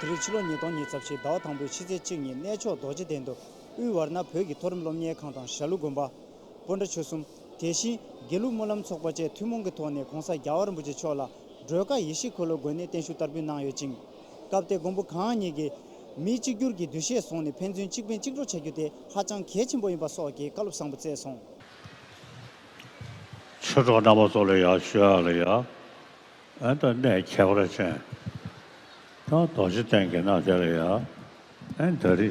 དེ་རིང་ཕྱི་ལོ་ཉིས་སྟོང་ཉིས་རྩ་བཞི་ཟླ་བ་དང་པོའི་ཕྱི་ཚེས་གཅིག་ཉིན་གནས་མཆོག་རྡོ་རྗེ་གདན་དུ། དབུས་བར་ན་བོད་ཀྱི་མཐོ་རིམ་སློབ་གཉེར་ཁང་དང་ཞྭ་ལུ་དགོན་པ། སྤོ་འདྲ་ཆོས་གསུམ། དེ་བཞིན་དགེ་ལུགས་སྨོན་ལམ་ཚོགས་པ་བཅས་ཐུན་མོང་གི་ཐོག་ནས་གོང་ས་རྒྱ་བ་རིན་པོ་ཆེ་མཆོག་ལ་སྒྲོལ་དཀར་ཡེ་ཤེས་འཁོར་ལོ་དགོན་ནས་བརྟན་བཞུགས་བསྟར་འབུལ་གནང་ཡོད་ཅིང། སྐབས་དེ་མགོན་པོ་གང་ཉིད་ཀྱིས། མི་གཅིག་གྱུར་གྱི་འདུ་ཤེས་བཟུང་ནས་ཕན་ཚུན་གཅིག་ཕན་གཅིག་གྲོགས་བྱ་རྒྱུ་དེ་ཧ་ཅང་གལ་ཆེན་པོ་ཡིན་པ་སོགས་ཀྱི་བཀའ་སློབ་བཟང་པོ་བསྩལ་སོང། ཆོས་གྲོགས་རྣམ་པ་ཚོ་ལ་ཡང་ཞུ་ཡག་ལ་ཡག་ཨན་ད་ནས་ཁྱད་པར་ཅན་ད་རྡོ་རྗེ་གཏན་གྱི་ནང་དེ་ལ་ཡག་ཨན་ད་རི།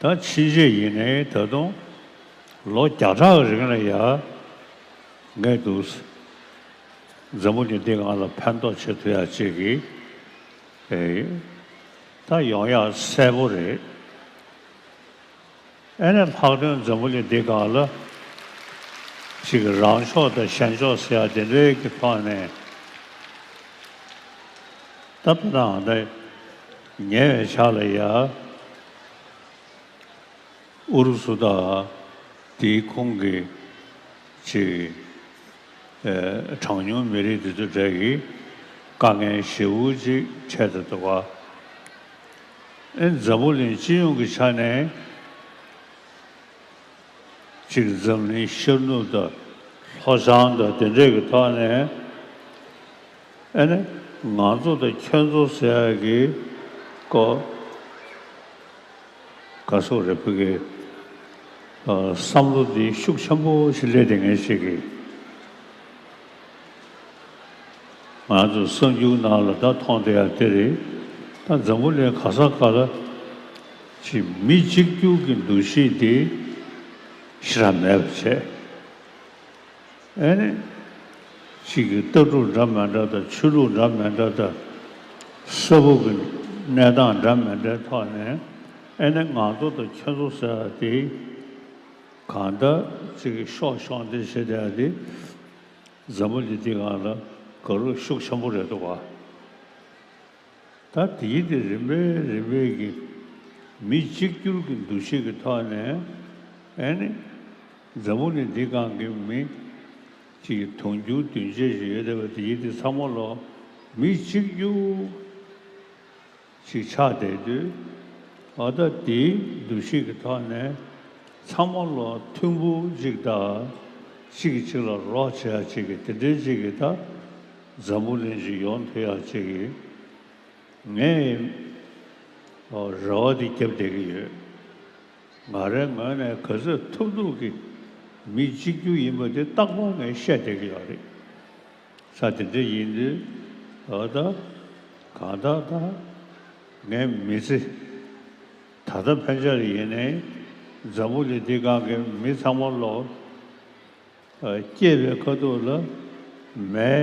ད་ཕྱིན་རྗེས་ཡིན་ནའི་ད་དུང་ལོ་བརྒྱ་ཕྲག་རིང་ལ་ཡར་ངེས་འདུག། མཛའ་མོ་ནི་འདི་ང་ལ་ཕན་ཐོགས་ཆེད་དུ་ཡ་གཅིག་གི་ད་ཡོང་ཡག་གསལ་པོ་རེད། ཨེ་ནས་ལྷག་དོན་མཛའ་མོ་ནི་འདི་ག་ལ་གཅིག་རང་ཕྱོགས་དང་གཞན་ཕྱོགས་ཟེར་ཡག་དེ་འདྲའི་གི་ཐོག་ནས་ད་བལྟ་ནའང་ད། ཉེ་བའི་ཆར་ལ་ཡ་ཨུ་རུ་སུ་དང་དེའི་ཁོངས་ཀྱི་ཆེས་གྲངས་ཉུང་མི་རིགས་དེ་ཚོའི་གྲས་ཀྱི་དཀའ་ངལ་ཞེ་བོ་གཅིག་འཕྲད་དུ་འདུག་པ་ཨིན། འཛམ་བུ་གླིང་སྤྱི་ཡོངས་ཀྱི་ཆ་ནས་གཅིག་འཛམ་གླིང་ཤར་ནུབ་དང་ལྷོ་བྱང་དང་དེ་འདྲས་ཀྱི་ཐོག་ནས་ཨ་ནི་ང་ཚོ་དང་ཁྱོད་ཚོ་ཟེར་ཡག་གི་ཀོ། ག་སོག་རེད་བོད་སྐད་བསམ་བློ་འདི་ཤུགས་ཆེན་པོ་ཞིག་སླེབས་དེ་ངས་བྱེད་གི། ང་ཚོ་གསང་རྒྱུག་ནང་ལ་ད་མཐོང་དེ་ཡང་དེ་རེད་ད་འཛམ་བུ་གླིང་ག་ས་ག་ལ་གྱི་མི་གཅིག་རྒྱུག་གི་འདུ་ཤེས་འདི་ཤི་ར་མེད་པ་བྱས། ཨེ་ནི། གཅིག་གི་ལྟ་གྲུབ་འདྲ་མི་འདྲ་དང་ཆོས་ལུགས་འདྲ་མི་འདྲ་དང། ས་ཕུག་གི་གནས་སྟངས་འདྲ་མི་འདྲའི་ཐོག་ནས་ཨེ་ནི་ང་ཚོ་དང་ཁྱེད་ཚོ་ཟེར་བ་དེ་གང་འདྲ་གཅིག་གིས་ཤོག་ཤོག་འདི་བྱེད་དེ་འདི་མཛའ་མོ་འདི་དེ་གང་ལ་དགའ་རོགས་ཤུགས་ཆེན་པོ་རེད་འདུག་བ། ད་དེའི་དེ་རིམ་པས་རིམ་པས་ཀྱི་མི་གཅིག་གྱུར་གྱི་འདུ་ཤེས་ཀྱི་ཐོག་ནས་ཨེ་ནི། མཛའ་མོ་ནི་འདི་གང་གི་མིང། ཅེས་དུང་ཕྱུར་བདུན་བརྒྱད་བཞི་ཡོད་བསྡད་པ་དེ་ཡིད་དེ་ཚ་མོ་ལ། མི་གཅིག་རྒྱུག། ཅིག་ཆགས་བསྡད་དུས། ཨ་ད་དེའི་འདུ་ཤེས་ཀྱི་ཐོག་ནས། ཚ་མོ་ལ་ཐུམ་བུ་གཅིག་བཏགས། གཅིག་གིས་གཅིག་ལ་རོགས་བྱེད་ཡ་གཅིག་གིས་དེ་འདྲའི་གཅིག་གིས་ད། མཛའ་མོ་ལན་ཅིག་ཡོང་ཐུབ་ཡ་གཅིག་གིས། ངས། རེ་བ་དེ་བརྒྱབ་བསྡད་ཀྱི་ཡོད། ང་རའི་ངོས་ནས་ག་ཚོད་ཐུབ་ཐུབ་ཀྱིས་མི་གཅིག་གྱུར་ཡིན་པ་དེ་སྟག་དཔུང་ངས་བཤད་བསྡད་ཀྱི་ཡོད་རེད། ས་དེ་འདྲ་ཡིན་དུས་ད་ལྟ་གང་ལྟར་ད་ངའི་མི་ཚེ་ད་ལྟ་ཕན་ཆ་ལ་ཡེ་ནས་འཛམ་བུ་གླིང་འདི་སྒང་གི་མི་ཚང་མ་བློ་སྐྱེས་པའི་དཀའ་སྡུག་ལ་མའི་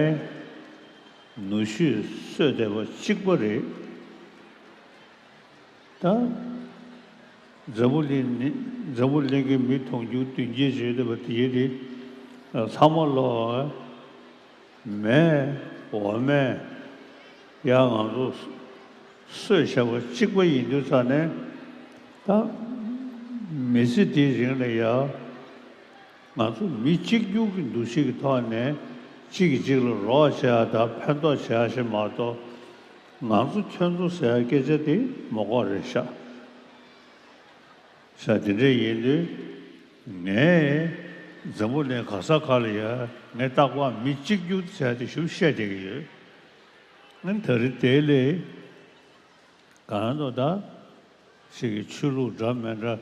ནུ་ཞོས་གསོས་བསྡད་པ་གཅིག་པ་རེད། དང། འཛམ་བུ་གླིང་ནི་འཛམ་བུ་གླིང་གི་མི་མཐོང་རྒྱུ་བདུན་རྒྱས་བརྗོད་འདོད་པ་དེའི་རིགས་ལྷག་མ་ལོ། མེ། འོ་མས། ཡང་ང་ཚོ། སོས་བྱ་བ་གཅིག་པ་ཡིན་དུས་ཚར་ནས། དང། མི་ཚེ་འདིའི་རིང་ལ་ཡང། ང་ཚོ་མི་གཅིག་གྱུར་གྱི་འདུ་ཤེས་ཀྱི་ཐོག་ནས་གཅིག་གིས་གཅིག་ལ་རོགས་བྱེད་ཡ་དང་ཕན་ཐོགས་བྱེད་ཡ་ཞེས་མ་གཏོགས། ང་ཚོ་ཁྱོད་ཚོ་ཟེར་བ་སྐད་ཆ་དེ་མོ་ཁོག་རེད་ཤག་ཤག་དེ་འདྲས་ཡིན་དུས་ངའི་འཛམ་བུ་ནས་ག་ས་ག་ལ་ཡར་ངས་རྟག་པར་མི་གཅིག་རྒྱུག་ཚད་དེ་ཞུ་བཤད་བསྡད་ཀྱི་ཡོད་ད་རི་དེ་ལས་གང་དུ་ད་ཞིག་གི་ཆོས་ལུགས་འདྲ་མེད་འདྲ་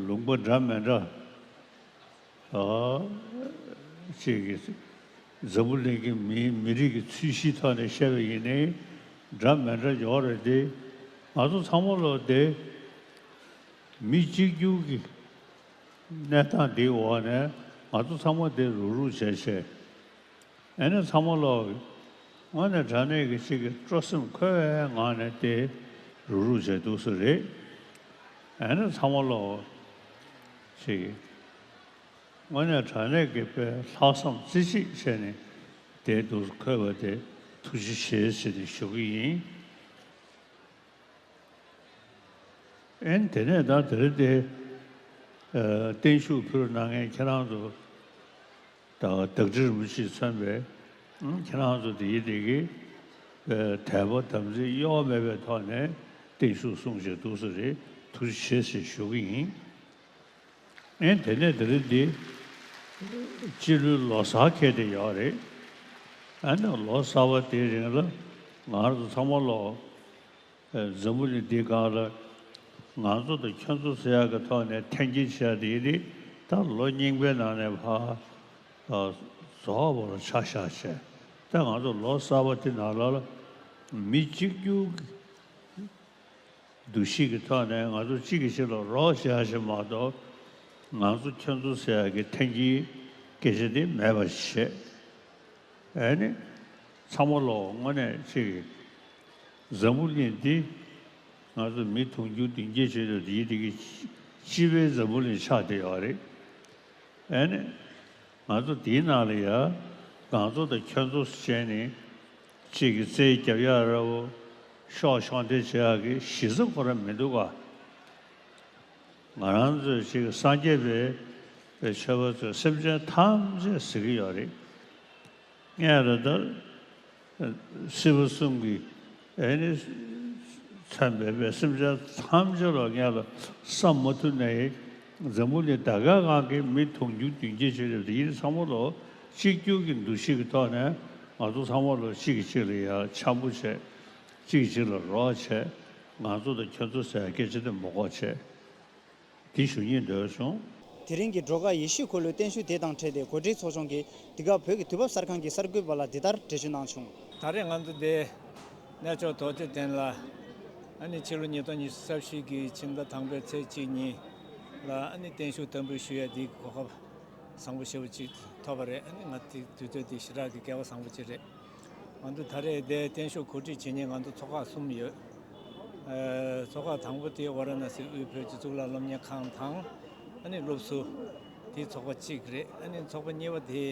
ལུང་པ་འདྲ་མེད་འདྲ། ཅེས་ཀྱི། འཛམ་བུ་གླིང་གི་མིའི་མི་རིགས་ཀྱི་ཚུལ་གཞིའི་ཐོག་ནས་བཤད་པ་ཡིན་ནི། འདྲ་མི་འདྲ་འཇོག་རེ་བདེ། ང་ཚོ་ཚང་མ་བློ་བདེ། མི་གཅིག་གྱུར་གྱི་གནས་སྟངས་འདིའི་འོག་ནས་ང་ཚོ་ཚང་མ་བདེ་རུག་རུག་བྱས་བྱས། ཨེ་ནས་ཚང་མ་བློ་ངོ་ནས་དྲ་གནས་ཀྱི་ཅིག་གི་སྤྲོ་སེམས་འཁོལ་བའི་ངང་ནས་བདེ་རུག་རུག་བྱས་འདུག་ས་རེད། ཨེ་ནས་ཚང་མ་བློ། ཞིག་ཡིན། དངོས་གནས་དྲ་གནས་ཀྱི་དཔེ་ལྷག་བསམ་རྩེ་གཅིག་བྱས་ནས་བསྡད་འདུག་ཁོས་བ་དེ་ཐུགས་རྗེ་ཆེ་ཟེར་ནས་ཞུ་གི་ཡིན། ཨན་དེ་ནས་ད་དེར་དེ་བརྟན་བཞུགས་ཕུལ་གནང་མཁན་ཁྱེད་རང་ཚོ། ད་བར་བདག་ཁྲི་རིན་པོ་ཆེས་མཚོན་པའི་ཁྱེད་རང་ཚོ་དེ་ཡི་དེ་གའི་དད་པ་དམ་ཚིག་གཡོ་བ་མེད་པའི་ཐོག་ནས་བརྟན་བཞུགས་གསུངས་བྱས་འདུག་ས་རེད་ཐུགས་རྗེ་ཆེ་ཞེས་ཞུ་གི་ཡིན། ཨེ་དེ་ནས་དེ་རིང་འདི་སྤྱི་ལོའི་ལོ་གསར་ཁེལ་དེ་ཡོད་རེད། ཨ་ནི་ལོ་གསར་བ་དེའི་རིང་ལ་ང་ཚོ་ཚང་མ་ལོ། འཛམ་བུ་གླིང་འདི་གང་ལ་ང་ཚོ་དང་ཁྱོད་ཚོ་ཟེར་ཡག་གི་ཐོག་ནས་འཐེན་འཁྱེར་བྱས་ཏེ་ཡིན་རིགས་ད་ལོ་རྙིང་པའི་ནང་ནས་བག་རྫོགས་བ་ལ་ཆ་བཞག་བྱས་ད་ང་ཚོ་ལོ་གསར་བ་དེ་ནང་ལ་མི་གཅིག་གྱུར་གྱི་འདུ་ཤེས་ཀྱི་ཐོག་ནས་ང་ཚོ་གཅིག་གིས་གཅིག་ལ་རོགས་བྱས་བཞིན་མ་གཏོགས་ང་ཚོ་ཁྱོད་ཚོ་ཟེར་ཡག་གི་འཐེན་འཁྱེར་སྐད་ཆ་དེ་མེད་པར་བྱས་ཨ་ནི་ཚང་མ་ལོ་དངོས་གནས་གཅིག་ཡིན། བཟང་པོ་གླིང་འདི། ང་ཚོ་མི་དུང་རྒྱུ་བདུན་བརྒྱད་བྱེད་དུ་འདིའི་འདི་གི། སྤྱི་བའི་འཛམ་བུ་ལས་ཆགས་བསྡད་ཡོད་རེད། ཨེ་ནས། ང་ཚོ་འདིའི་ནང་ལ་ཡ། གངས་མཚོ་དང་ཁྱོད་མཚོ་སུ་བྱས་ནས། ཅེས་ཀྱི་རྩེའི་རྒྱབ་ཡ་ར་བོ། ཤོག་ཤོག་འདྲེ་བྱེད་ཨ་ཀི་གཞི་རྩ་ཁོ་ར་མི་འདུག་ག། ང་རང་ཚོའི་ཅེས་ཀྱི་སངས་རྒྱས་པའི། པའི་ཆོས་པ་ཚོས་སེམས་ཅན་ཐམས་ཅད་གཟིགས་ཀྱི་ཡོད་རེད། ངས་ར་ད། སྲིད་པ་གསུམ་གྱི་ཨེ་ནི་ཚད་མེད་པའི་སེམས་ཅན་ཐམས་ཅད་ལ་ངས་ལ་བསམ་མ་ཐུབ་ནས་འཛམ་བུ་ནི་ད་གའི་ངང་གིས་མི་མཐོང་རྒྱུ་རྒྱུན་སྐྱེ་ཆོས་ལས་ཡིན་ཚང་མ་ལོ་གཅིག་གྱུར་གྱི་འདུ་ཤེས་ཀྱི་ཐོག་ནས་ང་ཚོ་ཚང་མ་ལོ་གཅིག་གིས་གཅིག་ལ་ཡ་འཆམ་པོ་བྱེད་གཅིག་གིས་གཅིག་ལ་རོགས་བྱེད་ང་ཚོ་དང་ཁྱོད་ཚོ་ཟེར་སྐད་ཅིག་དུ་མོ་ཁོག་བྱེད། དེ་ཞུ་ཉེས་འབྲེལ་བྱུང། དེ་རིང་གི་འགྲོ་ཁ་ཡེ་ཤུས་འཁོར་ལོའི་བརྟན་བཞུགས་དེ་དང་འཕྲད་དེ་གོ་སྒྲིག་ཚོགས་ཆུང་གིས་འདི་ག་བོད་ཀྱི་དུས་བབ་གསར་ཁང་གི་གསར་འགོད་པ་ལ་འདི་ལྟར་འགྲེལ་བརྗོད་གནང་བྱུང། ད་རེས་ང་ཚོ་འདི་གནས་ཕྱོགས་ཐོག་ཚེ་ཐན་ལ་ཨ་ནི་ཕྱི་ལོ་ཉིས་སྟོང་ཉི་ཤུ་རྩ་བཞི་གི་ཕྱི་ཟླ་དང་པའི་ཚེས་གཅིག་ཉིན་ལ་ཨ་ནི་བརྟན་བཞུགས་དམ་འབུལ་ཞུ་ཡ་འདིའི་གོ་སྐབས་བཟང་པོ་ཞེ་བོ་ཅིག་ཐོབ་པ་རེད་ཨ་ནི་ང་ཚོའི་དུས་ཚོད་འདི་ཞི་དྲག་གི་སྐལ་བ་བཟང་པོ་ཅིག་རེད། ང་ཚོ་ད་རེས་འདས་བསྟན་ཤོག་གོ་སྒྲིག་བྱེད་ཉེ་ང་ཚོ་ཚོགས་ཁག་གསུམ་ཡོད། ཚོགས་ཁག་དང་པོ་དེ་ཝཱ་ར་ནཱ་སི་དབུས་བོད་ཀྱི་གཙུག་ལག་སློབ་གཉེར་ཁང་དང། ཨ་ནི་སློབ་ཟུར། དེ་ཚོགས་པ་གཅིག་རེད། ཨ་ནི་ཚོགས་པ་གཉིས་པ་དེ།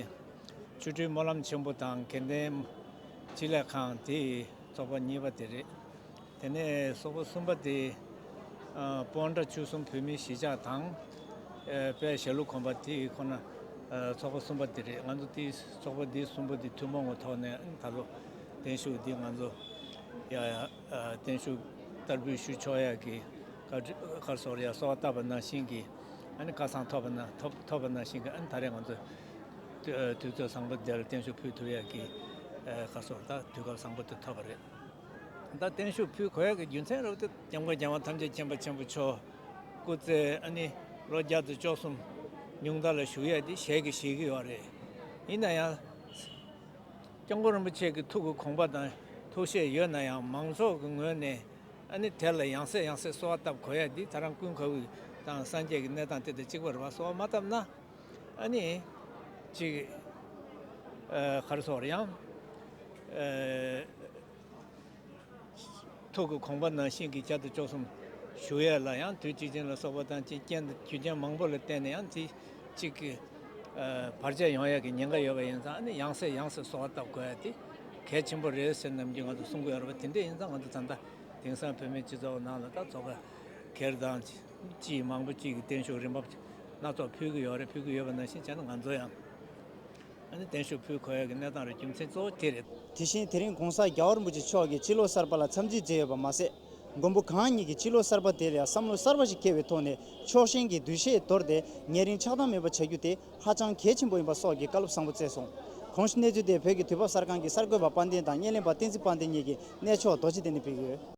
ཆོས་སྤྲུལ་སྨོན་ལམ་ཆེན་པོ་དང་དགེ་ལྡན། སྤྱི་ལེ་ཁང་དེ་ཚོགས་པ་གཉིས་པ་དེ་རེད། དེ་ནས་སོག་པོ་གསུམ་པ་དེས་སྤོང་བྲ་བཅུ་གསུམ་བོད་མི་བཞི་ཅག་དང། པའི་ཞྭ་ལུ་གོམ་པ་དེ་ཁོ་ན་ཚོགས་པ་གསུམ་པ་དེ་རེད་ང་ཚོ་དེ་ཚོགས་པ་འདི་གསུམ་པོ་དེ་ཐུན་མོང་གི་ཐོག་ནས་ད་ལོ་བརྟན་བཞུགས་འདི་ང་ཚོ་བརྟན་བཞུགས་བསྟར་འབུལ་ཞུ་ཆོག་ཡ་གི་ཁར་སོག་ར་ཡ་སོག་བཏབ་པ་ནང་བཞིན་གི་ཨ་ནི་བཀའ་གསང་ཐོབ་པ་ཐོབ་པ་ནང་བཞིན་གི་ཨ་ནི་ད་རེས་ང་ཚོ་དུས་ཚོད་བཟང་པོ་དེར་བརྟན་བཞུགས་ཕུལ་ཐུབ་ཡ་གི་ཁར་སོག་ད་དུས་སྐབས་བཟང་པོ་དེ་ཐོབ་པ་རེད། ཟླ་བརྟན་ཤུགས་ཕུད་གོ་ཡ་གི་རྒྱུ་མཚན་རབ་ཏུ་སྐྱབས་མགོན་རྒྱལ་བ་ཐམས་ཅད་མཁྱེན་པ་ཆེན་པོ་མཆོག་སྐུ་ཚེ་ཨ་ནི་ལོ་བརྒྱ་དང་བཅོ་གསུམ་ཉུང་མཐའ་ལ་བཞུགས་ཡས་དེ་ཞལ་གྱིས་བཞེས་ཀྱི་ཡོད་རེད། ཡིན་ན་ཡང། སྐྱབས་མགོན་རིན་པོ་ཆེ་གི་ཐུགས་ཀྱི་དགོངས་པ་དང་ཐུགས་བཞེད་ཡོད་ན་ཡང་མང་ཚོགས་ཀྱི་ངོས་ནས་ཨ་ནི་དེ་ལ་ཡང་སེ་ཡང་སེ་གསོལ་བ་བཏབ་གོ་ཡ་དེ་ད་རང་ཀུན་དགའ་བོའི་དང་སངས་རྒྱས་ཀྱི་གནས་དང་དེ་དང་གཅིག་པ་རེད་བ་གསོལ་བ་མ་བཏབ་ན། ཨ་ནི། ཅིག། གར་སོགས་རེའང། ཐུགས་ཀྱི་ཁོང་པ་ན་ཤིང་གི་ཁྱད་དུ་བཅོག་གསུམ། ཞུ་ཡས་ལ་ཡང་དུས་གཅིག་ཅན་ལ་སོགས་པ་དང་བཅས་རྐྱེན་དང་རྒྱུ་རྐྱེན་མང་པོ་ལ་བརྟེན་ནས་ཡང་རྩི། ཅིག། བར་ཆད་ཡང་ཡས་ཀྱི་ཉེན་ཁ་ཡོད་པ་ཡིན་ཙང་ཨ་ནི་ཡང་སེ་ཡང་སེ་སོགས་བཏབ་དགོས་ཏེ། གལ་ཆེན་པོ་རེད་ཟེར་ནམ་རྒྱུན་ང་ཚོ་གསུང་གི་ཡོད་རེད་པ་དེ་འདྲས་ཡིན་ཙང་ང་ཚོ་ད་ལྟ་དེང་སང་བོད་མིའི་སྤྱི་ཚོགས་ནང་ལ་ད་ཚོ་ག་གེར་དང། ཅིག་མང་པོ་ཅིག་གིས་བརྟན་བཞུགས་རིན་འབབ་སྣ་ཚོགས་ཕུལ་གྱི་ཡོད་རེད་ཕུལ་གྱི་ཡོད་པ་ནང་བཞིན་བྱས་ན་ང་ཚོ་ཡང་བརྟན་བཞུགས་ཕུལ་གོ་ཡ་གི་གནས་སྟངས་རེད་རྒྱུ་མཚན་གཙོ་བོ་དེ་རེད། དེ་བཞིན་དེ་རིང་གོང་ས་རྒྱ་བ་རིན་པོ་ཆེ་མཆོག་གིས་ཕྱི་ལོ་གསར་པ་ལ་འཚམས་གཟིགས་མཛད་ཡོད་པ་མ་ཟད། མགོན་པོ་གང་ཉིད་ཀྱིས་ཕྱི་ལོ་གསར་པ་དེར་ཡང་བསམ་བློ་གསར་པ་ཞིག་སྐྱེ་བའི་ཐོག་ནས་ཕྱོགས་ཞེན་གྱི་འདུ་ཤེས་དོར་ཏེ་ཉེ་རིང་ཆགས་སྡང་མེད་པ་བྱ་རྒྱུ་དེ་ཧ་ཅང་གལ་ཆེན་པོ་ཡིན་པ་སོགས་ཀྱི་བཀའ་སློབ་བཟང་པོ་བསྩལ་སོང། གོང་གནས་ཚུལ་དེ་བོད་ཀྱི་དུས་བབ་གསར་ཁང་གི་གསར་འགོད་པ་དཔལ་ལྡན་དང་བརྙན་ལེན་པ་བསྟན་འཛིན་དཔལ་ལྡན་གཉིས་ཀྱིས་གནས་མཆོག་རྡོ་རྗེ་གདན་ནས་ཕུལ་གྱི་ཡོད།